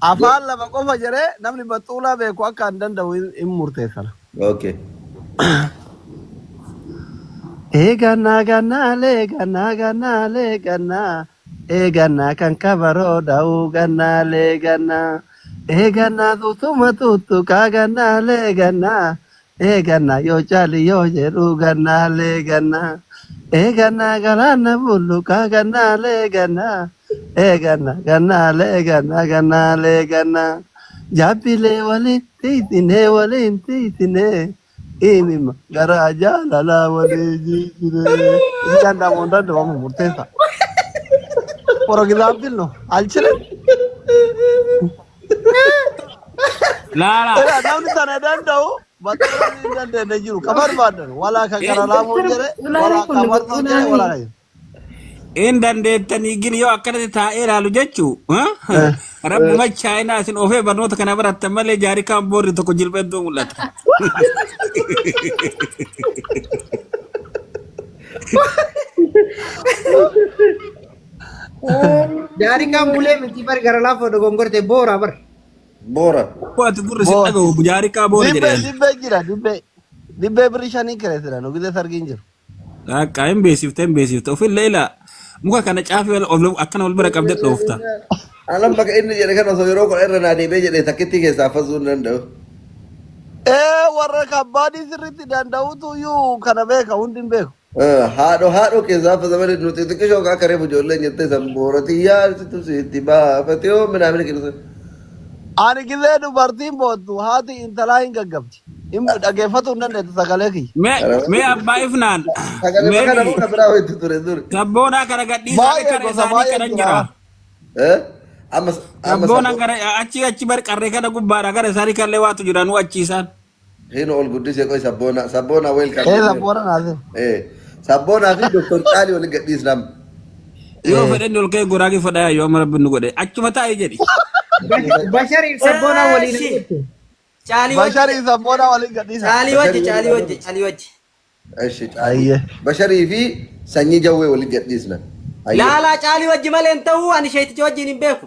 Go. Afaan lama qofa jedhee namni baxxuulaa beeku akka an danda'u hin hin murteessana. Okay. Eegannaa gannaalee gannaa gannaalee gannaa eegannaa kan kabaroo dha'uu gannaalee gannaa eegannaa tutuma tuttuqaa gannaalee gannaa Eeganna yoo caali yoo jedhu gannaalee ganna. Eeganna galaana bulluqa gannaalee ganna. Eeganna gannaalee ganna gannaalee ganna. Jabbilee waliin tiitinee waliin tiitinee. Imimma garaa jaalalaa walii jijjiree. Itti danda'amu hin danda'amu murteessa. Forogiraamtiin nu alchire. Laala. Egaa namni sana danda'u bakka namni hin dandeenye jiru. Ka barbaadan walaa kan gara laafuu hin jedhe, walaa kan martuu hin jedhe, walaa kan hin. Hin dandeettanii gini yoo akkanatti taa'ee ilaalu jechuu rabbuma chaayinaa isin ofee barnoota kana barattan malee jaarikaan boorri tokko jilba hedduu mul'ata. Jaarikaan bulee miti bar gara laafoo dogongorte boora bar. Boora. Waati gurri si Boora. dhagahu jaarikaa boora Dibbee jedheen. dibbee jira dibbee. Dibbee birrii shanii kireessina nu gidee sargiin jiru. Dhaaqaa hin beeksifte hin beeksifte ofillee ilaa muka kana caafii ol- ol- akkana wal bira qabdee dhoofta. Alam maka inni jedhe kan osoo yeroo kudha irra naa deebi'ee jedhe takkittii keessaa fasuu hin danda'u. Ee warra kabbaadii sirriitti danda'utu iyyuu kana beeka hundi hin beeku. Haadho haadho keessaa affa zamani nuti xiqqishoo akka reefu ijoolleen jettee san boorati yaarsitu sitti baafate yoo minaamina keessan. Ani gizee dubartiin boottu haati intalaa hin gaggabdi. Hin dhageeffatu hin dandeettu sagalee kiyya. Mee Araba mee abbaa ifnaan sagale mee makana biyyi muka biraa hoitti ture duri. sabboonaa kana gadhiisaa Baay'ee qarree gosa isaanii baay'een qaran jira. jira. Eh? Amma amma Sabboonaan sabbo. gara achii achi bar qarree kana gubbaadha gara isaanii kallee waatu jira nu achiisaan. Hii nu ol guddise qoy sabboona sabboona welcome Ee jenneera. sabboona naasif. Ee sabboonaa fi doktor caalii wal gadhiisnam. Yoo Ee. fedhen ol ka'e goraagii fadhaa yoo amma rabbi nu godhe achuma taa'e jedhi. Bash- Bashariif sabboonaa waliin Eeshi. hojjettu. Caalii wajji. Basharii sabboonaa waliin gadhiisa. Caalii wajji, Basharii caalii waliin wajji, caalii wajji. Eshi caalii. Ayyee. Basharii fi sanyii jawwee wal gadhiisna. Laalaa caalii wajji malee hin ta'uu ani sheeticha wajjin hin beeku.